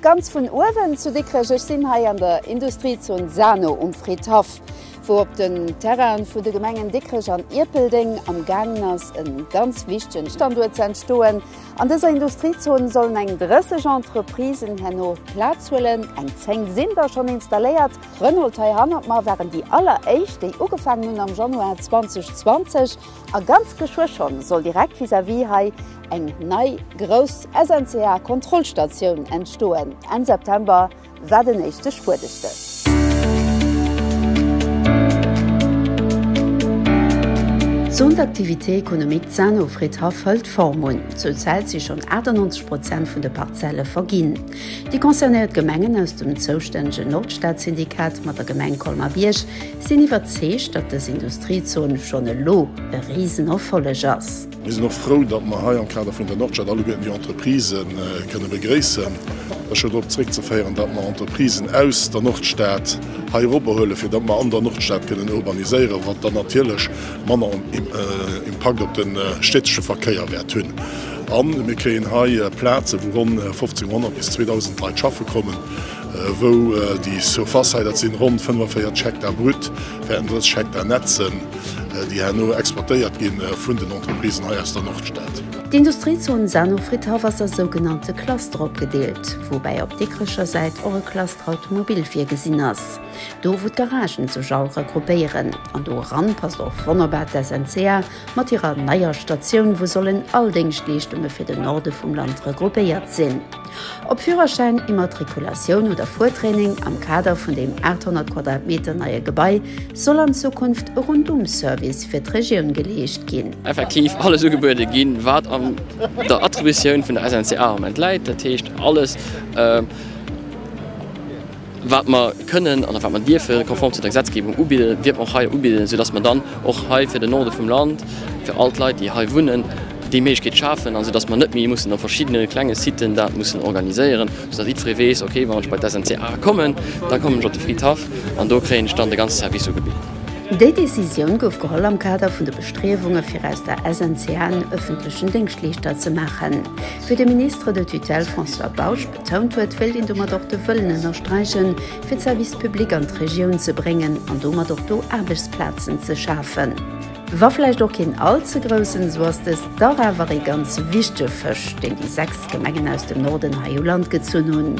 Ganz vun uewen zu Dikrech, ech sinn hei an der Industriezon Sano um Fridhaff, wou op den Terrainen vun de Gemengen Dikrech an Ierpeldeng am gaangen ass e ganz wichtegen Standuert ze entstoen. An dëser Industriezon sollen eng 30 Entreprisen herno Plaz huelen, eng 10 sinn der schonn installéiert. Renault, hei hannert mer, waren déi alleréischt déi ugefaangen hunn am Januar 2020. A ganz geschwë schonn soll direkt vis-à-vis hei eng nei grouss SNCA-Kontrollstatioun entstoen. Enn September war den éischte Spuedestéch. D'Zone d'activité économique Zano-Fridhaff hëlt Form un. Zur Zäit si schonn 98 Prozent vun de Parzelle verginn. Déi concernéiert Gemengen aus dem zoustännegen Nordstad-Syndikat mat der Gemeng Colmer-Bierg Sinn iwwerzeegt, datt dës Industriezon schonn elo e Risenerfolleg ass. Mir sinn och frou, datt mer hei am Kader vun der Nordstad alleguerten déi Entreprisë kënne begréissen. Dat ass scho drop zréckzeféieren, datt mer Entreprisen aus der Nordstad hei eropbehuelen, fir datt mer an der Nordstad kënnen urbaniséieren, wat dann natierlech manner Impakt op de städtesche Verkéier wäert hunn. A mir kréien hei Plaze wou ronn 1500 bis 2000 Leit schaffe kommen. wou déi Surface, dat sinn ronn 45 Hektar brut, wäerten 30 Hektar net sinn, déi herno exploitéiert gi vun den Entreprisen hei aus der Nordstad. D'Industriezon Saanenfriedhof ass a sougenannte Clustere opgedeelt, woubäi op Dikrecher Säit och e Cluster Automobil virgesinn ass, do wou d'Garagen sech all regroupéieren. An do eran passt och wonnerbar d'SNCA, Mat hirer neier Statioun, wou sollen all Déngschtleeschtunge fir den Norde vum Land regroupéiert sinn. Ob Führerschäin, Immatrikulatioun oder Fuertraining, am Kader vun deem 800 Quadratmeter neie Gebai soll an Zukunft e Rundum-Service fir d'Regioun geleescht ginn. Effektiv alles ugebuede ginn, wat an der Attributioun vun der SNCA am Moment läit, dat heescht alles. wat mer kënnen an wat mer dierfe konform zu der Gesetzgebung ubidden, dierf och hei ubidden, soudass mer dann och hei fir den Norde vum Land, fir all d'Leit, déi hei wunnen, déi Méiglechkeet schafen, soudass mer net méi mussen op verschiddene klenge Siten dat mussen organiséieren, soudass jiddweree weess, Okay, wann ech bei d'SNCA kommen, da kommen ech op de Fridhaff an do kréien ech dann de ganze Service ugebitt. Déi Decisioun gouf geholl am Kader vun de Bestriewunge fir aus der SNCA en ëffentlechen Déngschtleeschter ze maachen, wéi de Ministre de tutelle François Bausch D'Tountour wéilt een domat och de Wëllen ënnersträichen, fir d'Service publics an d'Regioun ze bréngen an domat och do Aarbechtsplazen ze schafen. Wa vläicht och keen all ze groussen, esou ass dëst dach awer ee ganz wichtege Fësch, deen déi sechs Gemengen aus dem Norden hei u Land gezunn hunn.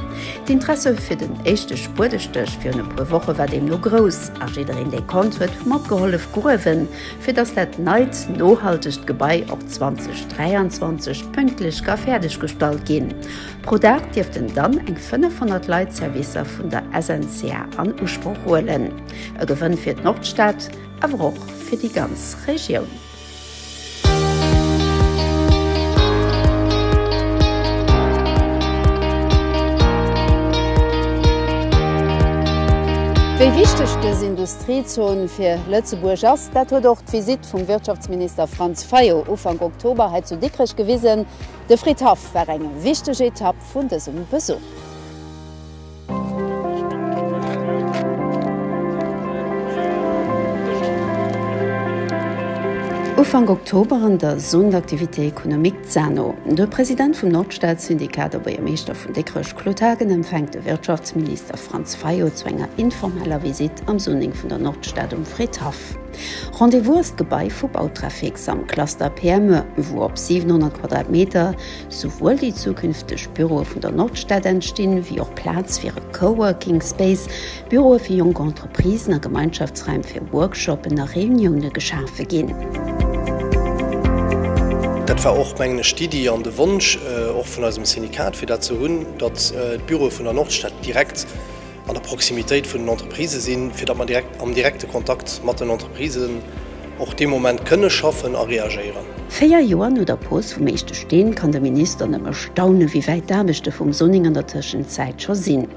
D'Interesse fir den éischte Spuedestéch virun e puer Woche war deemno grouss a jiddereen, dee konnt, huet matgehollef gruewen, fir datt dat neit, nohaltegt Gebai och 2023 pünktlech ka fäerdeg gestallt ginn. Pro Dag dierften dann eng 500 Leit d'Servicer vun der SNCA an Usproch huelen. E Gewënn fir d'Nordstad, awer och fir déi ganz Regioun. Wéi wichteg dës Industriezon fir Lëtzebuerg ass, dat huet och d'Visitt vum Wirtschaftsminister Franz Fayot Ufank Oktober hei zu Dikrech gewisen. De Fridhaff war eng wichteg Etapp vun dësem Besuch. Ufank Oktober an der Zone d'activité économique ZANO. De President vum Nordstad-Syndikat a Buergermeeschter vun Dikrech Claude Haagen empfänkt de Wirtschaftsminister Franz Fayot zu enger informeller Visitt am Zoning vun der Nordstad um Fridhaff. Rendez-Vous D'Gebai vu Bautrafix am Cluster PME, wou op 700 Quadratmeter souwuel déi zukünfteg Büroe vun der Nordstad entstinn, wéi och Plaz fir e Coworking Space, Büroe fir jonk Entreprisen a Gemeinschaftsraim fir Workshoppen a Reunioune geschafe ginn. Dat war och, mengen ech, d'Iddi an de Wonsch och vun eisem Syndikat, fir dat ze hunn, datt d'Büroe vun der Nordstad direkt, an der Proximitéit vun den Entreprisë sinn, fir datt mer direkt am direkte Kontakt mat den Entreprisen och dee Moment kënne schaffen a reagéieren. Véier Joer no der Pose vum éischte Steen kann de Minister nëmme staunen, wéi wäit d'Aarbechte vum Zoning an der Tëschenzäit scho sinn.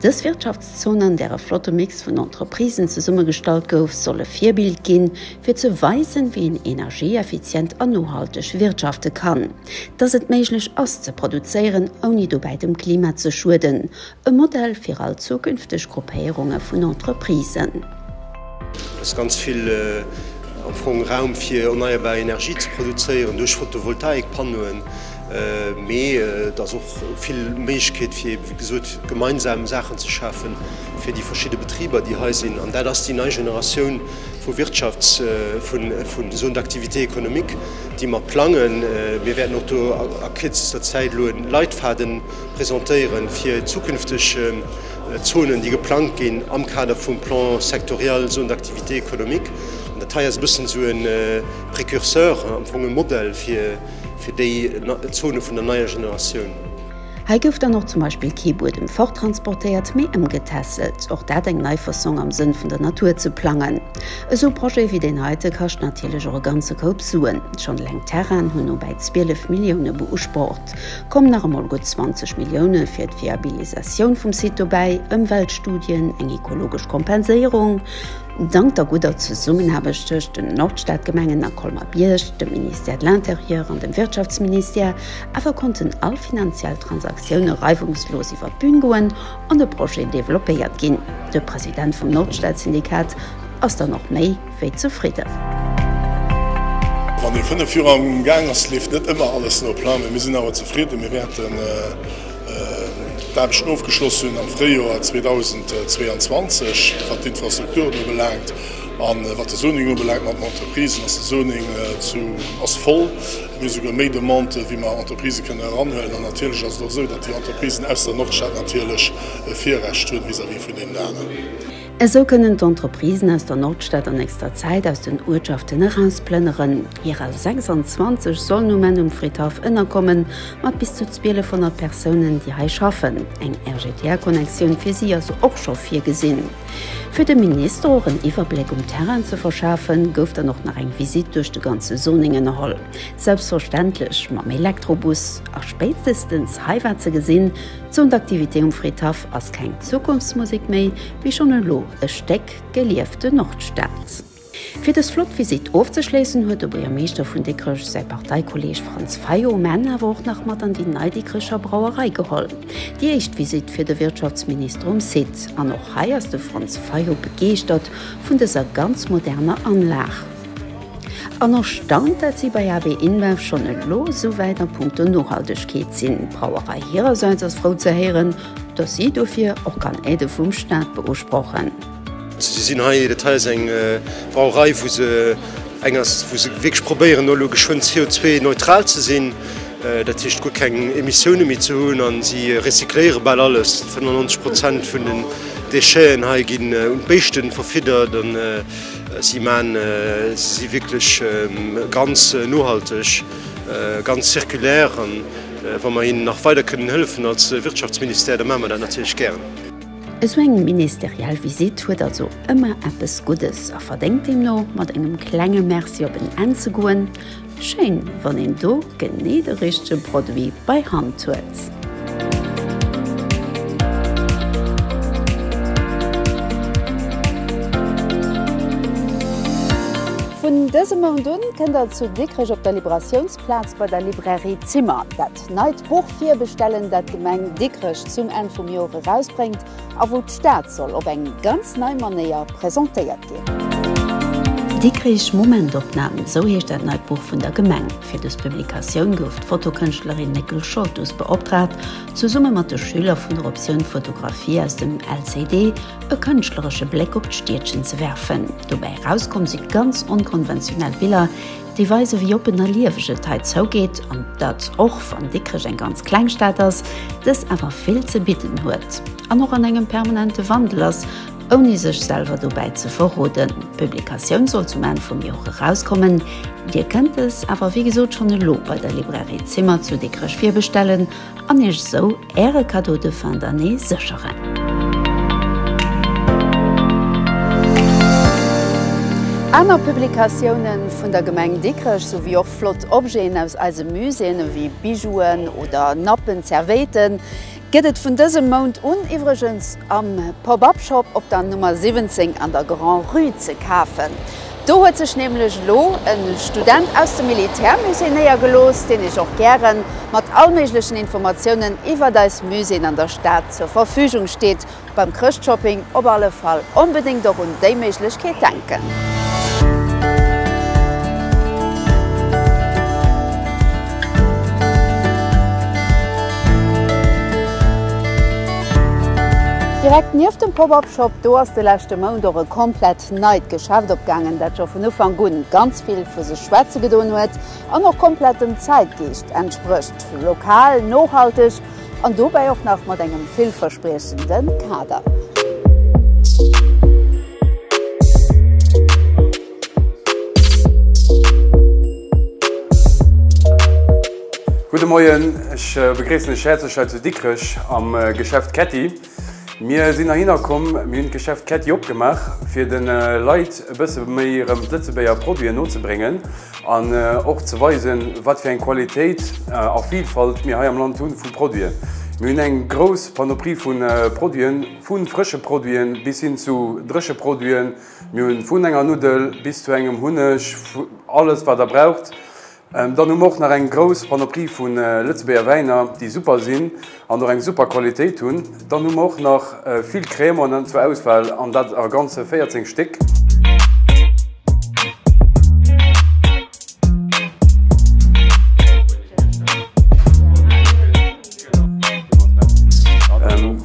Dës Wirtschaftszon, an där e flotte Mix vun Entreprisen zesummegestallt gouf, soll e Virbild ginn, fir ze weisen, wéi een energieeffizient a nohalteg wirtschafte kann, datt et méiglech ass ze produzéieren, ouni dobäi dem Klima ze schueden, E Modell fir all zukünfteg Gruppéierunge vun Entreprisen. Et ass ganz vill am Fong Raum fir erneierbar Energie ze produzéieren duerch Photovoltaik-Pannoen, mee et ass och vill Méiglechkeet fir eeben, wéi gesot, gemeinsam Saachen ze schafen fir déi verschidde Betriber, déi hei sinn. An dat ass déi nei Generatioun vu Wirtschafts-, vun, vun soen, d'Activité économique, déi mer plangen. Mir wäerten och do a kürzester Zäit elo e Leitfaden. presentéieren, fir zukünfteg Zonen, déi geplangt ginn am Kader vum Plan sectoriel Zone d'activité économique. An dat hei ass e bëssen esou e Précurseur, am Fong e Modell fir déi Zone vun der neier Generatioun. Hei gouf dann och zum Beispill kee Buedem forttransportéiert, mee ëmgetässelt. Och dat eng nei Fassong, am Sënn vun der Natur ze plangen. Esou Projet wéi deen heite kascht natierlech och e ganze Koup Suen. Schonn eleng d'Terrainen hunn no bäi 12 Millioune beusprocht. Komm nach emol gutt 20 Millioune fir d'Viabilisatioun vum Site dobäi, Ëmweltstudien, eng ekologesch Kompenséierung. Dank der gudder Zesummenaarbecht tëscht den Nordstadgemengen a Colmer-Bierg, dem Ministère de l'Intérieur an dem Wirtschaftsministère awer konnten all finanziell Transaktioune reiwungslos iwwer d'Bühn goen an de Projet developpéiert ginn. De President vum Nordstadsyndikat ass dann och méi. wéi zefridden. Wann ee 5 Joer am Gaang ass, leeft net ëmmer alles no Plan, mee mir sinn awer zefridden. Mir wäerten d'Aarbechten ofgeschloss hunn am Fréijoer 2022, wat d'Infrastrukturen ubelaangt. A wat de Zoning ubelaangt mat den Entreprisen, ass de Zoning zu ass voll. Mir hu souguer méi Demandë wéi mer Entreprisë kënnen eranhuelen. An natierlech ass et och esou, datt déi Entreprisen aus der Nordstad natierlech e Virrecht hu vis-à-vis vun deenen aner. Esou kënnen d'Entreprisen aus der Nordstad a nächster Zäit aus den Uertschaften erausplënneren. Hirer 26 sollen um Enn um Fridhaff ënnerkommen, mat bis zu 1200 Persounen, déi hei schaffen. Eng RGTR-Connexioun fir si ass och scho virgesinn. Fir dem Minister och en Iwwerbléck um Terrain ze verschafen, gouf dann och nach eng Visitt duerch de ganze Zoning ënnerholl. Selbstverständlech mam Elektrobus. A spéitstestens hei war ze gesinn, D'Zone d'activité um Fridhaff ass keng Zukunftsmusek méi, mee schonn elo e Stéck geliefte Nordstad. Fir dës flott Visitt ofzeschléissen, huet de Buergermeeschter vun Dikrech säi Parteikolleeg Franz Fayot, Menn, awer och nach mat an déi nei Dikrecher Brauerei geholl. Déi éischt Visitt fir de Wirtschaftsminister um Site. An och hei ass de Franz Fayot begeeschtert vun dëser ganz moderner Anlag. An erstaunt, dat si bei AB InBev schonn elo esou wäit a Punkto Nohaltegkeet sinn. D'Brauerei hirersäits ass frou ze héieren, datt si dofir och kann Aide vum Staat beusprochen. Si sinn hei, dat hei ass eng Brauerei wou se eng ass wou se wierklech probéieren no elo geschwënn CO2-neutral ze sinn, dat heescht guer keng Emissioune méi ze hunn an si recycléiere bal alles. 95 Prozent vun den Décheten hei ginn un d'Béischte verfiddert. Si maan si wierklech ganz nohalteg, ganz zirkulaire an wa mer hinnen nach weider kënnen hëllefen als Wirtschaftsministère, da maache mer dat natierlech gären. Esou eng ministeriell Visitt huet also ëmmer eppes Guddes a verdéngt deemno mat engem klenge Merci op en Enn ze goen. Schéin wann een do genee de richtegen Produit bei Hand huet. Vun dësem Mount un kënnt der zu Dikrech op der Liberatiounsplaz bei der Librairie Zimmer dat neit Buch virbestellen dat d'Gemeng Dikrech zum Enn vum Joer erausbréngt. a wou d'Stad soll op eng ganz nei Manéier presentéiert ginn. Dikrich Momentopnahmen, sou heescht dat neit Buch vun der Gemeng. Fir dës Publikatioun gouf d'Fotokënschtlerin Nicole Scholtus beoptraagt, zesumme mat de Schüler vun der Optioun Fotografie aus dem LCD e kënschtleresche Bléck op d'Stiedchen ze werfen. Dobäi erauskomm si ganz onkonventionell Biller, Déi weise wéi oppen a lieweg et hei zougeet, an dat och wann Dikrech eng ganz kleng Stad ass, dës awer vill ze bidden huet an och an engem permanente Wandel ass, ouni sech selwer dobäi ze verroden. D'Publikatioun soll zum Enn vum Joer erauskommen. Dir kënnt dës awer wéi gesot schonn elo bei der Librairie Zimmer zu Dikrech virbestellen. an Iech esou Äre Cadeau de fin d'année sécheren. Aner Publikatiounen vun der Gemeng Dikrech souwéi och flott Objeten aus eise Muséeën ewéi Bijouen oder Nappen, Zerwéiten, gëtt et vun dësem Mount un iwwregens am Pop-Up Shop op der Nummer 17 an der Grand-Rue ze kafen. Do huet sech nämlech elo e Student aus dem Militärmusée néiergelooss, deen iech och gäre mat all méiglechen Informatiounen iwwert eis Muséeën an der Stad zur Verfügung steet. Beim Chrëschtshopping op alle Fall onbedéngt och un déi Méiglechkeet denken. Direkt nieft dem Pop-Up Shop do ass de leschte Mount och e komplett neit Geschäft opgaangen, dat scho vun Ufank un ganz vill vu sech schwätze gedoen huet an och komplett dem Zäitgeescht entsprécht, lokal, nohalteg an dobäi och nach mat engem villverspriechende Kader. Gudde Moien, ech begréissen lech häerzlech hei zu Dikrech am Geschäft Ketti. Mir sinn heihinner komm, mir hunn d'Geschäft Ketti opgemaach, fir de Leit e bësse méi erëm d'Lëtzebuerger Produiten nozebréngen an och ze weisen, wat fir eng Qualitéit a Vilfalt mir hei am Land hu vu Produiten. Mir hunn eng grouss Panoprie vu Produiten, vu frësche Produiten bis hin zu dréche Produiten. Mir hu vun enger Nuddel bis zu engem Hunneg, alles, wat Der braucht. Dann hu mer och nach eng grouss Panoplie vu Lëtzebuerger Wäiner, déi super sinn an och eng super Qualitéit hunn. Dann hu mer och nach vill Crémaune zur Auswahl, an dat a ganze 14 Stéck.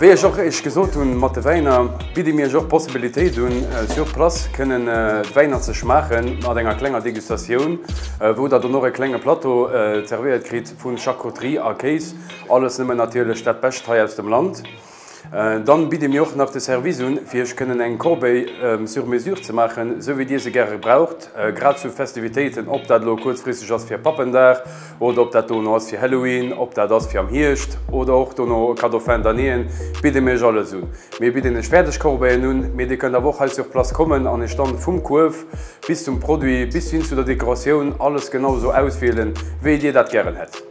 Wéi ech och Iech gesot hunn, mat de Wäiner bidde mir Iech och d'Possibilitéit un, sur place kënnen d'Wäiner ze schmaachen, mat enger klenger Degustatioun, wou Der dann och e klenge Plateau zervéiert kritt vu Charcuterie a Kéis, alles nëmmen natierlech dat Bescht hei aus dem Land. Dann bidde mir och nach de Service un, fir iech kënnen eng Corbeille sur mesure ze maachen, sou wéi dir se gäre gebraucht, grad zu Festivitéiten, ob dat elo kuerzfristeg ass fir Pappendag oder ob dat dono ass fir Halloween, ob dat ass fir am Hierscht oder och dono e Cadeau fin d'annéeën, bidde mir iech alles un. Mir bidden iech fäerdeg Corbeillen un, mee dir kënnt awer och hei sur place kommen an iech dann vum Kuerf bis zum Produit bis hin zu der Dekoratioun alles genau sou auswielen, wéi dir dat gären hätt.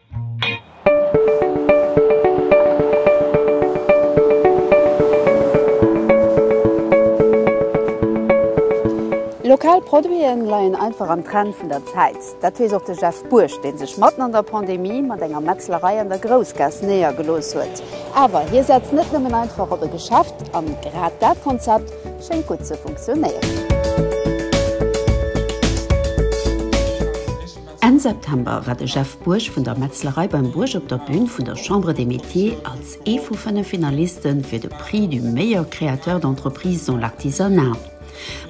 Lokal Produite leien einfach am Trend vun der Zäit. Dat weess och de Jeff Buerg, dee sech matten an der Pandemie mat enger Metzlerei an der Groussgaass néiergelooss huet. Awer hie setzt net nëmmen einfach op e Geschäft, an grad dat Konzept schéngt gutt ze funktionéieren. Enn September war de Jeff Bourg vun der Metzlerei beim Bourg op der Bühn vun der Chambre des Métiers als ee vu fënnef Finaliste fir de Prix du meilleur créateur d'entreprise dans l'artisanat.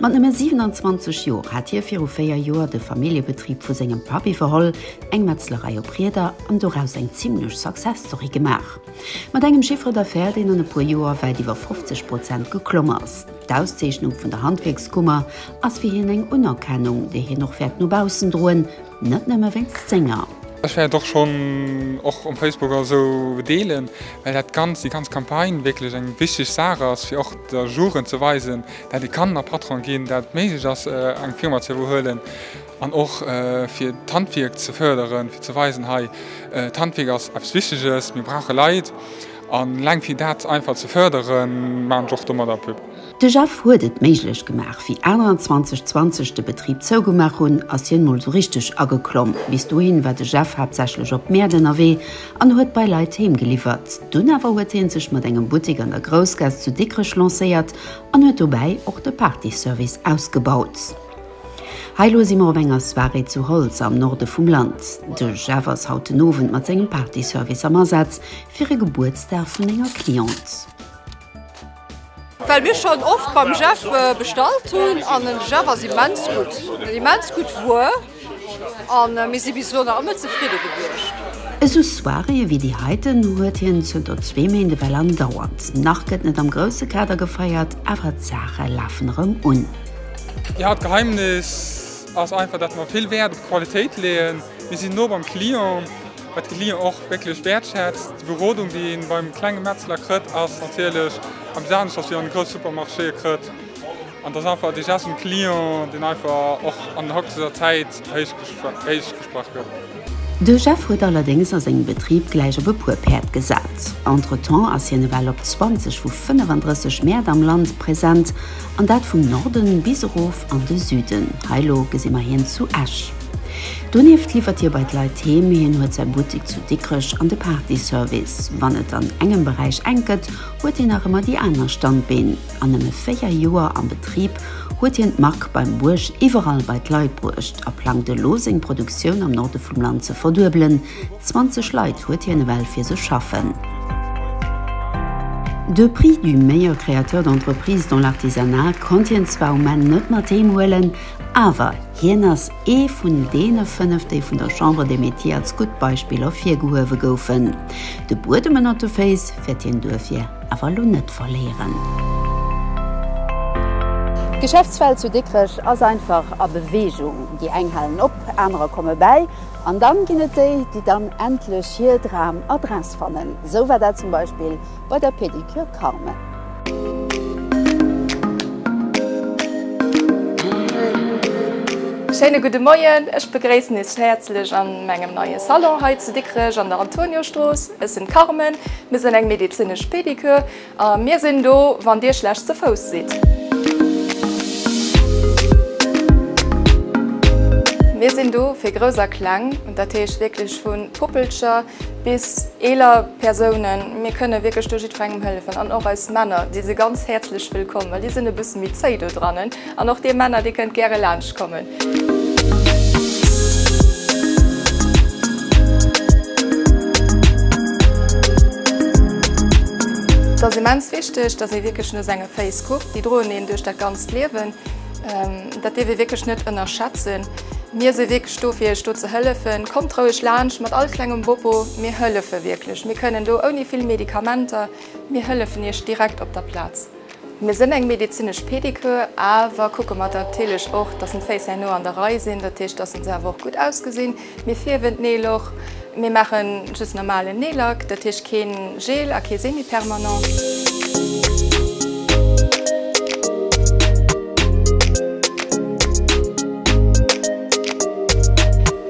Mat nëmme 27 Joer hat hie viru véier Joer de Familljebetrib vu sengem Papp iwwerholl, eng Metzlerei op Rieder, an doraus eng zimlech Success-Story gemaach. Mat engem Chiffre d'affaires, deen an e puer Joer wäit iwwer 50 Prozent geklomm ass. D'Auszeechnung vun der Handwierkskummer ass fir hien eng Unerkennung, déi hien och wäert no baussen droen, net nëmme wéinst senger. Ech wäert och schonn och um Facebook oder esou deelen, well dat Ganzt, déi ganz Campagne wierklech eng wichteg Saach ass, fir och der Jugend ze weisen, dat ee kann a Patron ginn, dat et méiglech ass, eng Firma ze iwwerhuelen an och fir d'Handwierk ze fërderen, fir ze weisen, hei, d'Handwierk ass eppes Wichteges, mir brauche Leit. A Läng fir dat einfach ze fërderen, maachen ech och domadder Pub. De Jeff huet et méiglech gemaach. Wéi aner an 2020 de Betrib zougemaach hunn, ass hien mol esou richteg ageklomm. Bis dohin war de Jeff haaptsächlech op Mäert ënnerwee an huet bei Leit heemgeliwwert. Dunn awer huet hien sech mat engem Buttek an der Groussgaass zu Dikrech lancéiert an huet dobäi och de Partyservice ausgebaut. Hei lo si mer op enger Soirée zu Holtz am Norde vum Land. De Jeff ass haut den Owend mat sengem Partyservice am Asaz fir e Gebuertsdag vun enger Cliente. Well mir schonn oft beim Jeff bestallt hunn an den Jeff ass immens gutt, en immens gutt Wuer a mir si bis elo nach ëmmer zefridde gewiescht. Esou Soiréeë wéi déi heiten huet hien zënter zwee Méint ewell andauernd. Nach gëtt net am grousse Kader gefeiert, awer d'Saache lafen erëm un. Déi Hauptgeheimnis ass einfach, dat mer vill Wäert op d'Qualitéit leeën. Mir sinn no beim Client, wat de Client och wierklech wäertschätzt. Déi Berodung, déi ee beim klenge Metzler krëtt, ass natierlech eppes anescht, wat een an de grouss Supermarchéë krëtt. An et ass einfach de Geste um Client, deen einfach och an der aktueller Zäit héich. De Jeff huet allerdéngs a sengem Betrib gläich op e puer Päerd gesat. Entretemps ass hien ewell op 20 vu 35 Mäert am Land present, an dat vum Norden bis erof an de Süden, hei elo gesi mer hien zu Esch. Donieft liwwert hie bei d'Leit heem, hien huet säi Buttik zu Dikrech an de Partyservice. Wann et an engem Beräich enk gëtt, huet hien nach ëmmer déi aner Standbeen. An nëmme 4 Joer am Betrib huet hien d'Mark beim Buerg iwwerall bei d'Leit bruecht a plangt elo seng Produktioun am Norde vum Land ze verduebelen. 20 Leit huet hien ewell fir sech schaffen. De Prix du meilleur créateur d'entreprise dans l'artisanat konnt hien zwar um Enn net mat heem huelen, awer hien ass ee vun deene 5 déi vun der Chambre des Métiers als gutt Beispill ervirgehuewe goufen. De Buedem ënnert de Féiss wäert hien duerfir awer elo net verléieren. D'Geschäftswelt zu Dikrech ass einfach a Beweegung. Déi eng halen op, anerer komme bäi an dann ginn et déi, déi dann endlech hir Dram Adress fannen. Esou war dat zum Beispill bei der Pedicure Carmen. Schéine gudde Moien, ech begréissen iech häerzlech a mengem neie Salon hei zu Dikrech an der Antoniostrooss. Ech sinn d'Carmen, mir sinn eng medezinesch Pedicure a mir sinn do wann dir schlecht ze Fouss sidd. Mir sinn do fir Grouss a Kleng, dat heescht wierklech vu Puppelcher bis eeler Persounen, mir kënne wierklech do jiddwerengem hëllefen an och eis Männer, déi si ganz häerzlech wëllkomm, well déi sinn e bësse méi zéi dodrannen. An och dir Männer, dir kënnt gäre laanscht kommen. Et ass immens wichteg, dass ee wierklech no senge Féiss kuckt. Déi droen een duerch dat ganzt Liewen. Dat dierf ee wierklech net ënnerschätzen. Mir si wierklech do, fir iech do ze hëllefen. Kommt roueg laanscht mat all klengem Bopo. Mir hëllefe wierklech. Mir kënnen do ouni vill Medikamenter. Mir hëllefen iech direkt op der Plaz. Mir sinn eng medezinesch Pedicure, awer kucke matertilech och, dass en d'Féiss herno an der Rei sinn, dat heescht, dass en se awer och gutt ausgesinn. Mir fierwen d'Neel och. Mir maachen just normalen Neellack, dat heescht kee Gel a kee Semi-permanent.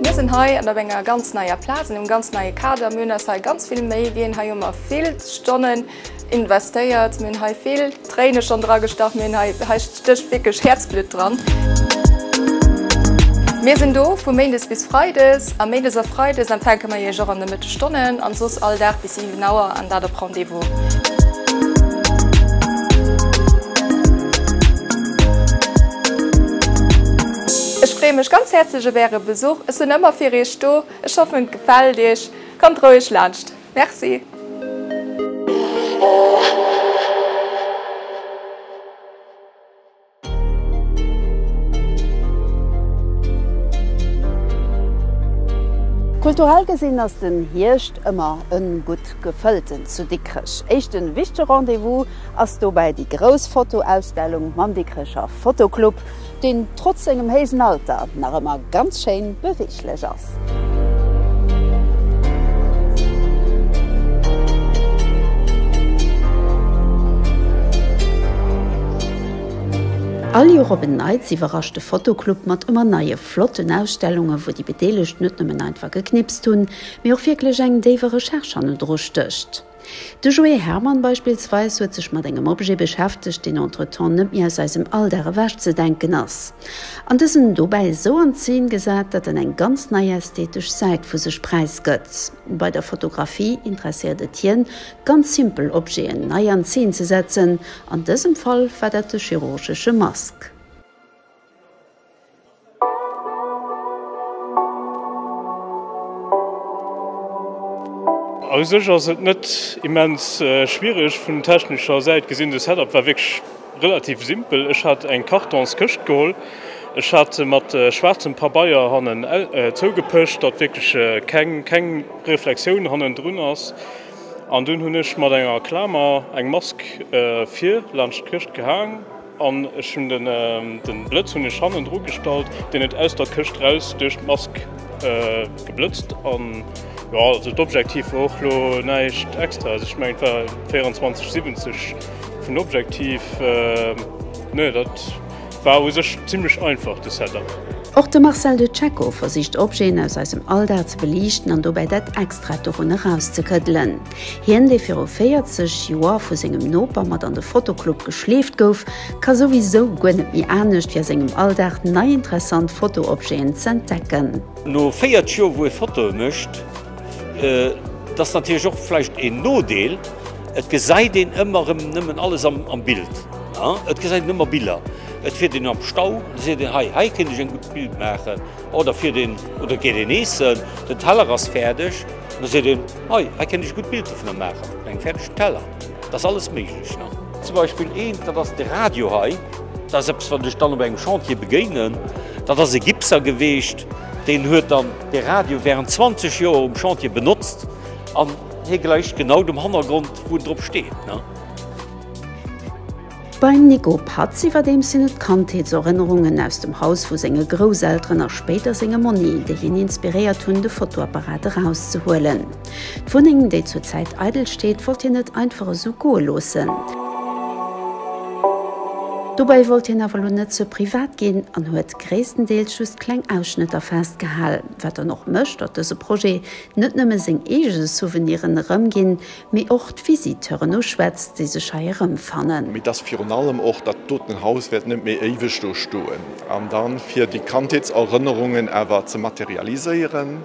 Mir sinn hei an op enger ganz neier Plaz, an engem ganz neie Kader. Mir hunn eis hei ganz vill Méi ginn. Hei hu mer vill Stonnen. Investéiert, mir hunn hei vill Tréine schonn dragestach, mir hunn hei, hei stécht wierklech Häerzblutt dran. Mir sinn do vu méindes bis freides a méindes a freides empfänke mer Iech och an de Mëttegstonnen an soss all Dag bis 7 Auer an dat op Rendez-vous. Ech freeë mech ganz häerzlech op Äre Besuch, ech sinn ëmmer fir Iech do. Ech hoffen, et gefält Iech. Kommt roueg laanscht. Merci! Kulturell gesinn ass den Hierscht ëmmer en gutt gefëllten zu Dikrech. Éischten wichtege Rendez-vous ass dobäi déi grouss Fotoausstellung mam Dikrecher Fotoclub. deen trotz sengem héijen Alter nach ëmmer ganz schéin beweeglech ass. All Joer op en Neits iwwerrascht de Fotoclub mat ëmmer neie flotten Ausstellunge wou déi Bedeelegt net nëmmen einfach geknipst hunn, mee och wierklech eng déiwe Recherche hannendru stécht. De Joé Hermann beispillsweis huet sech mat engem Objet beschäftegt, deen entretemps net méi aus eisem Alldag ewech ze denken ass, an dësen dobäi esou an d'Zeen gesat, datt en eng ganz nei ästhetesch Säit vu sech präisgëtt. Bei der Fotografie interesséiert et hien, ganz simpel Objeten nei an Zeen ze setzen, an dësem Fall war dat de chirurgesche Mask. Aus sech ass et net immens schwiereg vun technescher Säit gesinn. De Setup war wierklech relativ simpel. Ech hat eng Kartonskëscht geholl, ech hat se mat schwaarzem Pabeier hannen zougepëscht, datt wierklech keng keng Reflexioun hannendrun ass. An dunn hunn ech mat enger Klamer eng Mask vir laanscht d'Këscht gehaang. An ech hun den Blëtz hun ech hannen dru gestallt, deen et aus der Këscht raus duerch d'Mask geblëtzt. An jo also d'Objektiv wor och lo näischt extraes, ech mengen et war 24 70 vun Objektiv, ne dat war u sech zimlech einfach de Setup. Och de Marcel de Cecco versicht Objeten aus eisem Alldag ze beliichten an dobäi dat Extraet dorunner rauszekëddelen. Hien, dee viru 40 Joer vu sengem Noper mat an de Fotoclub geschleeft gouf, ka souwisou guer net méi anescht, wéi a sengem Alldag nei interessant Fotoobjeten z'entdecken. No 40 Joer, wou ee Fotoe mécht, dat ass natierlech och vläicht een Nodeel, et gesäit een ëmmer erëm nëmmen alles am Bild, et gesäit een ëmmer Biller. Et fiert een am Stau, da seet een, hei, hei kéint ech eng gutt Bild maachen. Oder fiert een oder geet een eessen, den Teller ass fäerdeg, da seet een, Hei, hei kennt ech e gutt Bild dovun a maachen eng fäerdeg Teller. Et ass alles méiglech nach. Zum Beispill eent, dat ass de Radio hei. Dat ass eppes, wat ech dann op engem Chantier begéinen. Dat ass e Gipser geweecht, deen huet dann de Radio während 20 Joer um Chantier benotzt an hie gläicht genau dem Hannergrond, wou en drop steet. Beim Nico Patz iwwerdeems sinn et Kandheetserënnerungen aus dem Haus vu senge Grousselteren a spéider senge Monni, déi hien inspiréiert hunn, de Fotoapparat erauszehuelen. D'Wunneng, déi zur Zäit eidel steet, wollt hien net einfach esou goe loossen. Dobäi wollt hien awer elo net ze privat ginn an huet gréisstendeels just kleng Ausschnëtter festgehal. Wat dann och mécht, datt dëse Projet net nëmme seng eege Souveniren erëmginn, mee och d'Visiteuren uschwätzt, déi sech hei erëmfannen. Mee dass virun allem och dat doten Haus wäert net méi éiweg do stoen. An da fir déi Kandheetserënnerungen awer ze materialiséieren,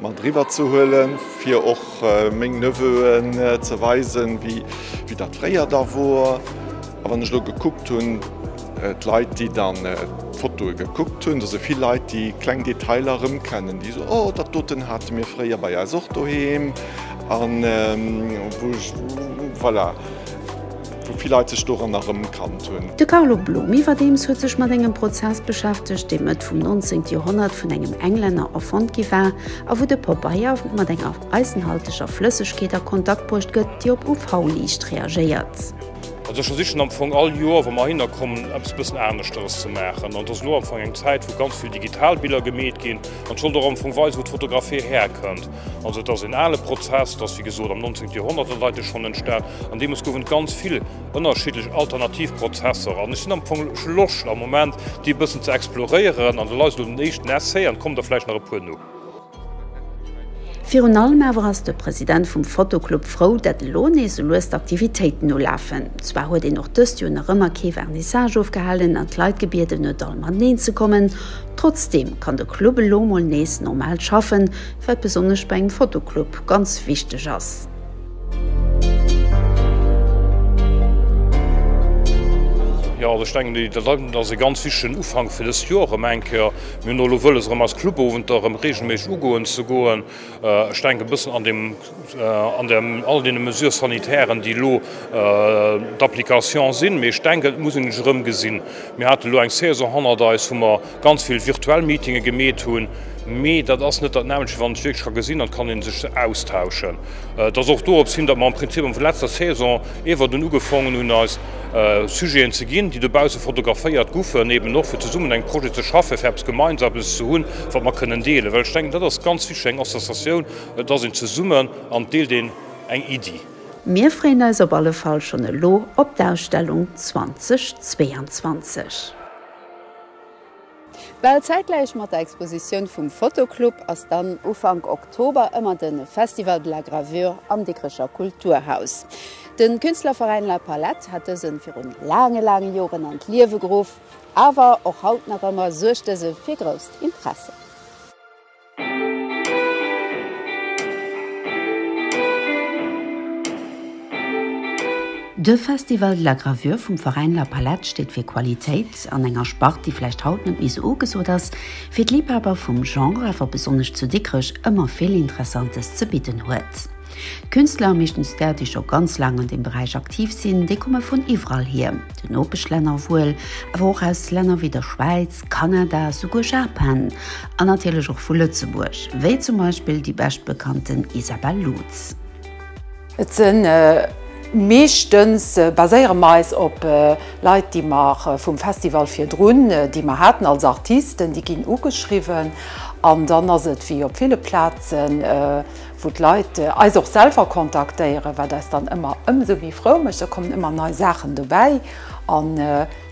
mat eriwwer ze huelen, fir och meng Neveu'en ze weisen, wéi dat fréier da wor. A wann ech elo gekuckt hunn, d'Leit, déi dann d'Fotoe gekuckt hunn, da si vill Leit, déi kleng Detailer erëmkennen, déi soen, Oh, dat doten hate mir fréier bei eis och doheem. An wou ech, voilà, wou vill Leit sech doran erëmkannt hunn. De Carlo Blum iwwerdeems huet sech mat engem Prozess beschäftegt, dee Mëtt vum 19. Joerhonnert vun engem Englänner erfonnt gi war a wou de Pobeier mat enger eisenhalteger Flëssegkeet a Kontakt bruecht gëtt, déi op UV-Liicht reagéiert. Also ech versichen am Fong all Joer, wa mer heihinner kommen, eppes e bëssen aneschteres ze maachen. An et ass elo am Fong eng Zäit, wou ganz vill digital Biller gemeet ginn. An et sollt och am Fong weisen, wou d'Fotografie herkënnt. Also et ass een ale Prozess, et ass wéi gesot am 19. Joerhonnert an Deitere schonn entstan an deemools gouf et ganz vill ënnerschiddlech alternativ Prozesser an ech sinn am Fong, ech hu Loscht am Moment déi e bëssen ze exploréieren an da leist elo den éischten Essai an et kommen der vläicht nach e puer no. Virun allem awer ass de President vum Fotoclub frou, dat elo nees sou lues d'Aktivitéiten ulafen. Zwar huet een och dëst Joer nach ëmmer kee Vernissage ofgehalen an d'Leit gebieden huet all mateneen ze kommen, trotzdeem kann de Club elo mol nees normal schaffen, Wat besonnesch bei engem Fotoclub ganz wichteg ass. Jo, also ech denken, déi dat hei, dat ass e ganz wichtegen Ufank fir dëst Joer erëm eng Kéier. Mir hunn och elo wëlles, erëm eis Clubowenter erëm reegelméisseg ugoen ze goen. Ech denken, e bëssen an deem. an der all deene Mesures sanitairen, déi elo d'Application sinn. Mee ech denken, et muss een et erëm gesinn. Mir haten elo eng Saison hannert eis, wou mer ganz vill virtuell Meetinge gemeet hunn. Mee dat ass net datnelmscht, wann een sech wierklech ka gesinn an et kann ee sech austauschen. Et ass och dorop hin, datt mer am Prinzip am letzter Saison iwwert un ugefongen hunn, eis Sujeten ze ginn, déi dobausse fotograféiert goufen, eben och fir zesummen eng Projete ze schaffen, fir eppes Gemeinsames ze hunn, wat mer kënnen deelen. Well ech denken, dat ass ganz wichtig, eng Associatioun, Et ass een zesummen an et deelt een eng Iddi. Mir freeën eis op alle Fall schonn elo op d'Ausstellung 2022. Bal zäitgläich mat der Expositioun vum Fotoclub ass dann Ufank Oktober ëmmer de Festival de la Gravure am Dikrecher Kulturhaus. De Künstlerveräin La Palette hat dëse virun laange laange Joren an d'Liewe geruff, awer och haut nach ëmmer suergt dëse fir grousst Interesse. De Festival de la Gravure vum Veräin La Palette steet fir Qualitéit an enger Spart, déi vläicht haut net méi sou ugesot ass, fir d'Liebhaber vum Genre awer besonnesch zu Dikrech ëmmer vill Interessantes ze bidden huet. D'Künstler, meeschtens där, déi scho ganz laang an deem Beräich aktiv sinn, déi komme vun iwwerall hier, den Nopeschlänner wuel, awer och aus Länner wéi der Schwäiz, Kanada, souguer Japan an natierlech och vu Lëtzebuerg, wéi zum Beispill déi beschtbekannten Isabelle Lutz. Et sinn meeschtens, baséiere mer eis op Leit, déi mer vum Festival virdrun, déi mer haten als Artisten, déi ginn ugeschriwwen. An dann ass et wéi op ville Plazen, wou d'Leit eis och selwer kontaktéieren, wat eis dann ëmmer ëmsou méi frou mécht. Da kommen ëmmer nei Saachen dobäi.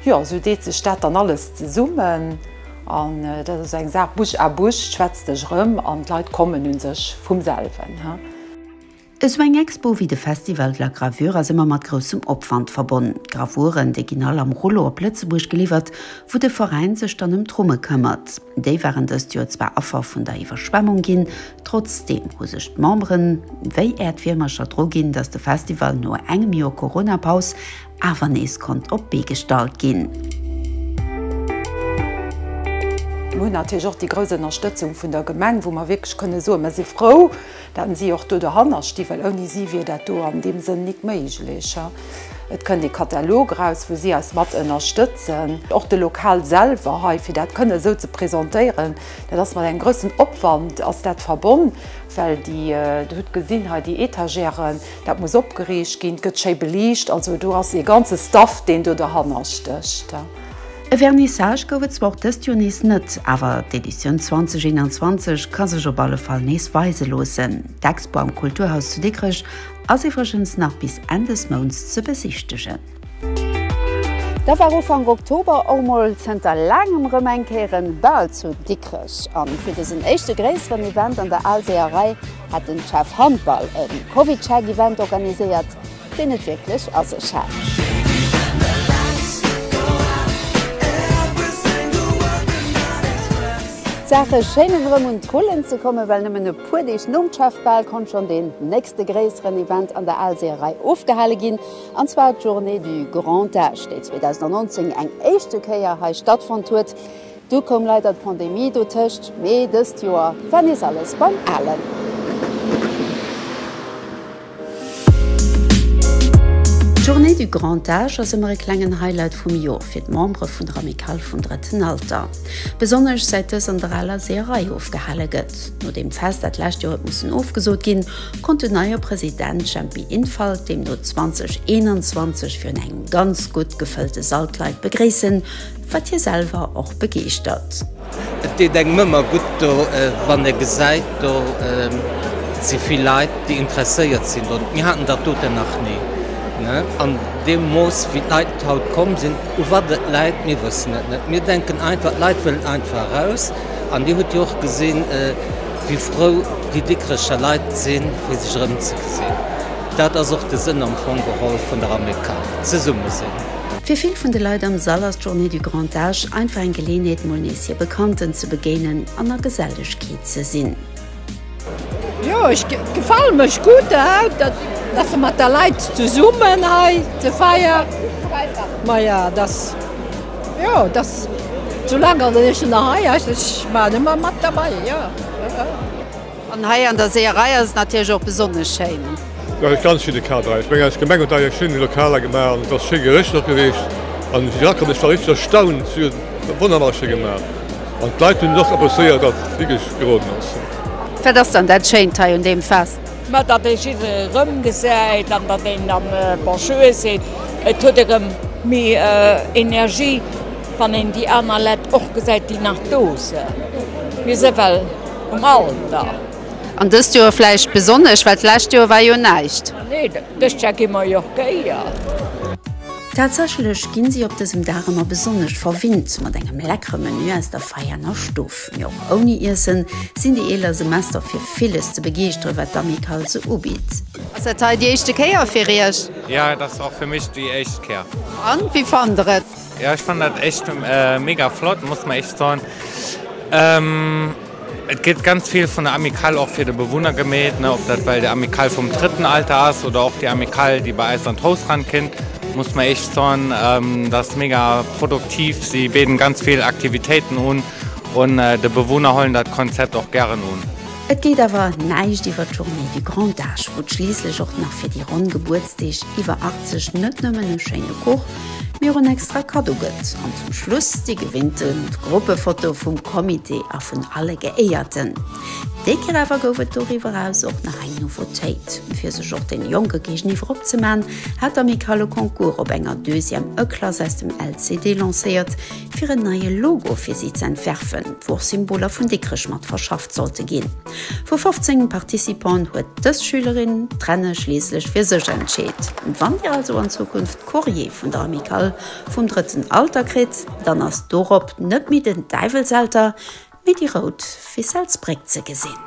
Jo, esou deet sech dat dann alles zesummen. An dat ass esou eng Saach, bouche à bouche, schwätz dech erëm an d'Leit kommen u sech vum selwen. Esou eng Expo wéi de Festival de la Gravure ass ëmmer mat groussem Opwand verbonnen. D'Gravuren, déi ginn all am Rullo op Lëtzebuerg geliwwert, wou de Veräin sech dann ëm d'Rumme këmmert. Déi waren dëst Joer zwar Affer vun der Iwwerschwemmung ginn, trotzdeem hu sech d'Memberen wéi Äerdwiermercher dru ginn, datt de Festival no engem Joer Corona-Paus, awer nees konnt op d'Bee gestallt ginn. Mir hunn natierlech och déi grouss Ënnerstëtzung vun der Gemeng, wou mer wierklech kënne soen, mir si frou, datt si och do dohanner stinn, well ouni si wier dat do an deem Sënn nik méiglech. Et kënnt ee Katalog eraus, wou si eis mat ënnerstëtzen. Och de Lokal selwer hei, fir dat kënne esou ze presentéieren, dat ass mat engem groussen Opwand ass dat verbonn, well déi, Dir hutt gesinn hei déi Etagèren, Dat muss opgeriicht ginn, gëtt schéi beliicht. Also do ass ee ganze Staff, deen do derhanner stécht. E Vernissage gouf et zwar och dëst Joer nees net, awer d'Editioun 2021 ka sech op alle Fall nees weise loossen. D'Expo am Kulturhaus zu Dikrech ass iwwregens nach bis Enn des Mounts ze besichtegen. Da war Ufank Oktober och mol zënter laangem rëm eng Kéier en Bal zu Dikrech. An fir dësen éischte gréisseren Event an der Alseeërei Hat den Chef Handball en Covidcheck Event organiséiert deen et wierklech a sech hat? D'Saache schéinen erëm un d'Rullen ze kommen, well nëmmen e puer Deeg nom Chef Ball konnt schonn deen nächste gréisseren Event an der Alseeërei ofgehale ginn, an zwar d'Journée du Grand Âge, déi 2019 eng éischte Kéier hei stattfonnt huet. Du koum leider d'Pandemie dotëscht, mee dëst Joer war nees alles beim Alen. D'Journée du Grand Âge ass ëmmer e klengen Highlight vum Joer fir d'Membere vun der Amicale vum Drëtten Alter. Besonnesch säit dës an der aler Seeërei ofgehale gëtt. Nodeem d'Fest dat lescht Joer huet mussen ofgesot ginn, konnt den neie President Jempy Infalt deemno 2021 virun engem ganz gutt gefëllte Sall d'Leit begréissen, Wat hie selwer och begeeschtert. Et deet engem ëmmer gutt do, wann ee gesäit, do si vill Leit, déi interesséiert sinn dorun. Mir haten dat doten nach ni an deem Mooss, wéi d'Leit haut komm sinn. U wat et läit, mir wëssen et net. Mir denken einfach, d'Leit wëllen einfach eraus. An Dir hutt jo och gesinn, wéi frou déi Dikrecher Leit sinn, fir sech erëmzegesinn. Dat ass och de Sënn am Fong geholl vun der Amicale, zesumme sinn. Fir vill vun de Leit am Sall ass d'Journée du Grand Âge einfach eng Geleeënheet mol nees hir Bekannten ze begéinen an a Gesellechkeet ze sinn. Jo ech gefalen mech gutt haut dat se mat der Leit zesummen hei ze feier ma ja dass jo dass zu langer ech nach hei ech waren ëmmer mat derbei jo. An hei an der Seeërei ass et natierlech och besonnesch schéin. Nach e ganz schéine Kader. Ech mengen, eis Gemeng huet hei eng schéin Lokaler gemaach an et ass schéi gerichtert gewiescht. An ech war wierklech erstaunt, si huet wonnerbar schéi gemaach an d'Leit hunn et och appréciéiert, datt et wierklech geroden ass. Wat ass dann dat Schéint hei un deem Fest? Ma datt ee jiddere rëmgesäit an datt een dann Bonjour seet. Et huet erëm méi Energie, wann een déi aner Leit och gesäit, déi nach do sinn. Mir si well. Um Alter. An dëst Joer vläicht besonnesch, well d'lescht Joer war jo näischt. Nee, dëst Jahr gi mer jo Kéier. Tatsächlech ginn si op dësem Dag ëmmer besonnesch verwinnt mat engem leckere Menü aus der Veianer Stuff. Mee och ouni Iessen sinn déi eeler Semester fir villes ze begeeschtere wat d'Amicale se ubitt. Ass dat hei déi éischte Kéier fir Iech? Jo, et ass och fir mech déi éischt Kéier. An, wéi fannt der et? Jo ech fannen dat echt mega flott, muss mer echt soen et gëtt ganz vill vun der Amicale och fir de Bewunner gemeet, ne ob dat well déi Amicale vum drëtten Alter ass oder och déi Amicale déi bei eis an d'Haus ran kinnt, muss mer echt soen dat ass mega produktiv, si béden ganz vill Aktivitéiten un un de Bewunner hollen dat Konzept och gären un. Et geet awer näischt iwwer d'Journée du grand âge, wou et schliisslech och nach fir déi ronn Gebuertsdeeg iwwer 80 net nëmmen e schéine Kuch, mir en extra Kaddo gëtt an zum Schluss déi gewinnte Gruppefoto vum Comité a vun alle Geéierten. Déi Kéier awer gouf et doriwwer eraus och nach eng Nouveautéit. Fir sech och deene Jonke géigeniwwer opzeman, hat d'Amicale e Concours op enger Deuxième E-Klass aus dem LCD lancéiert, fir en neie Logo fir si z'entwerfen, wou och Symboler vun Dikrech mat verschafft sollte ginn. Vu 15 Participanten huet dës Schülerin d'Renne schliisslech fir sech entscheet. Wann Dir also an Zukunft Courrier vun der Amicale vum drëtten Alter kritt, dann ass dorop net méi den Däiwelselter, mee déi rout Ficellsbréck ze gesinn.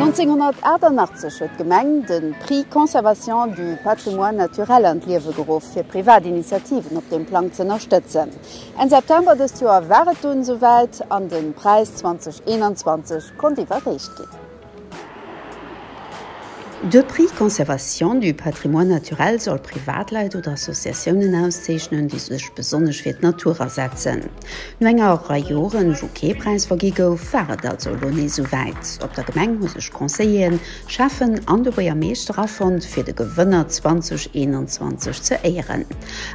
1988 huet d'Gemeng de Prix Conservation du patrimoine naturel an d'Liewe geruff, fir privat Initiativen op deem Plang z'ënnerstëtzen. Enn September dëst Joer war et dunn esouwäit an de Präis 2021 konnt iwwerreecht ginn. De Prix Conservation du patrimoine naturel soll Privatleit oder Associatiounen auszeechnen, déi sech besonnesch fir d'Natur asetzen. No enger Rei Joren, wou kee Präis vergi gouf, war et also elo nees esou wäit. Op der Gemeng hu sech Conseilleren, Schäffen an de Buergermeeschter afonnt, fir de Gewënner 2021 ze éieren.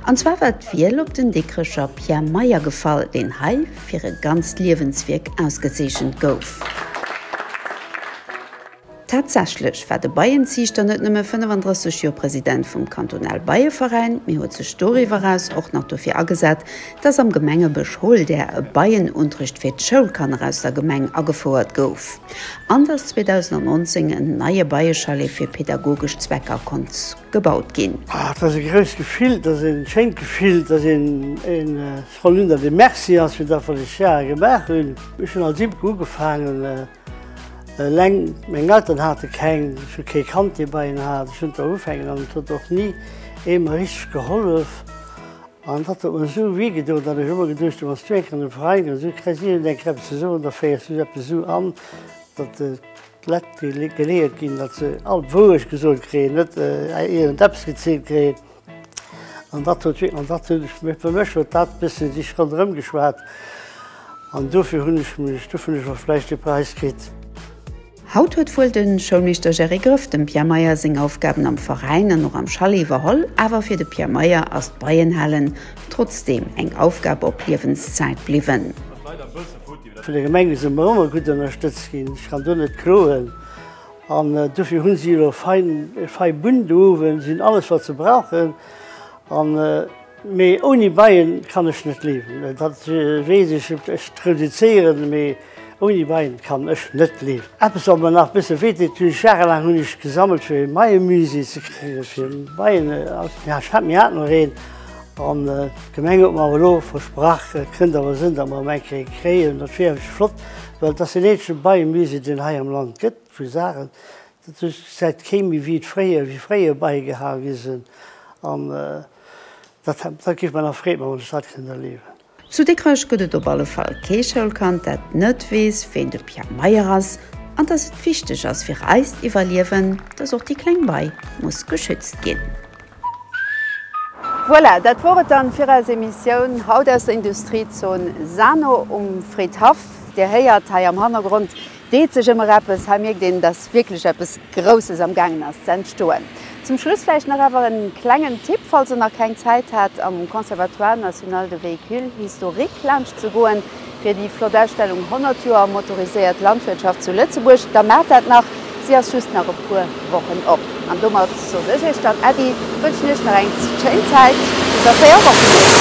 An zwar war d'Wiel op den Dikrecher Pierre Meyer gefall, deen hei, fir e ganzt Liewenswierk ausgezeechent gouf. Tatsächlech war de Beienziichter net nëmme 35 Joer President vum Kantonal Beieveräin, mee huet sech doriwwer eraus och nach dofir agesat, datt am Gemengebësch Holdär e Beienuntricht fir d'Schoulkanner aus der Gemeng agefouert gouf an datt 2019 en neie Beiechalet fir pedagogesch Zwecker konnt gebaut ginn. Ah, et ass e grousst Gefill, et ass e schéint Gefill, et ass e Frau Linder, de Merci ass fir dat wat ech Jahre gemaach hunn. Ech hunn als Imker ugefaangen, eleng. Meng Eltern hate keng, ech hu kee kannt dee bei hinnen hat. Ech hunn do ufänken an et huet och ni ee mer richteg gehollef. An dat huet mer esou wéi gedoen, datt ech ëmmer geduecht hunn, wanns du eng Kéier an de Veräin gees, esou kréis iergend eng Kéier eppes ze soen, da féiers du eppes esou an, datt d'Leit geleeërt ginn, datt se all d'Wourecht gesot kréien, net iergendeppes gezielt kréien. An dat huet an dat hunn ech fir mech huet dat bëssen sech ronderëm geschwat an dofir hunn ech mech dofir hunn ech och vläicht dee Präis kritt. Haut huet wuel de Schoulmeeschter Gerry Grëff dem Pierre Meyer seng Aufgaben am Veräin an och am Chalet iwwerholl, awer fir de Pierre Meyer ass d'Beienhalen trotzdeem eng Aufgab op Liewenszäit bliwwen. Vun der Gemeng si mer ëmmer gutt ënnerstëtzt ginn, ech kann do net kloen. An dofir hunn si elo fein e fei Bunn do uewen, sinn alles wat se brauchen. An mee ouni Beien kann ech net leewen, dat weess ech. Ech reduzieren, mee ouni Beien kann ech net leewen. Eppes wat mer nach bësse wéi deet, hunn ech jahrelaang hunn ech gesammelt fir e Beiemusée ze kréien, fir Beien aus, jo ech hat, mir haten och een an d'Gemeng huet mer awer elo versprach, kënnt awer sënn, datt mer em eng kéie kréien, dat wier flott. Well et ass deen eenzege Beienmusée, deen et hei am Land gëtt, vu Saachen, dat sou säit kee méi wéi et fréier, wéi fréier Beie gehal gi sinn. An dat géif mer nach Freed maachen, wann ech dat kéint erliewen. Zu Dikrech gëtt et op alle Fall kee Schoulkand, dat net weess, ween de Pierre Meyer ass an dass et wichteg ass fir eist Iwwerliewen, dass och déi kleng Bei muss geschützt ginn. Voilà, dat wor et dann fir eis Emissioun haut aus der Industriezon Sano um Fridhaff. Dir héiert, hei am Hannergrond deet sech ëmmer eppes. Hei mierkt een, dass wierklech eppes Grousses am gaangen ass ze entstoen. Zum Schluss vläicht nach awer e klengen Tipp, falls der nach keng Zäit hat, am Conservatoire national de véhicules historiques laanscht ze goen. Fir déi flott Ausstellung 100 Joer motoriséiert Landwirtschaft zu Lëtzebuerg, da maacht dat nach, si ass just nach e puer Wochen op. An domat soot ech iech dann Äddi, wënschen iech nach eng schéin Zäit, bis a 4 Wochen nees.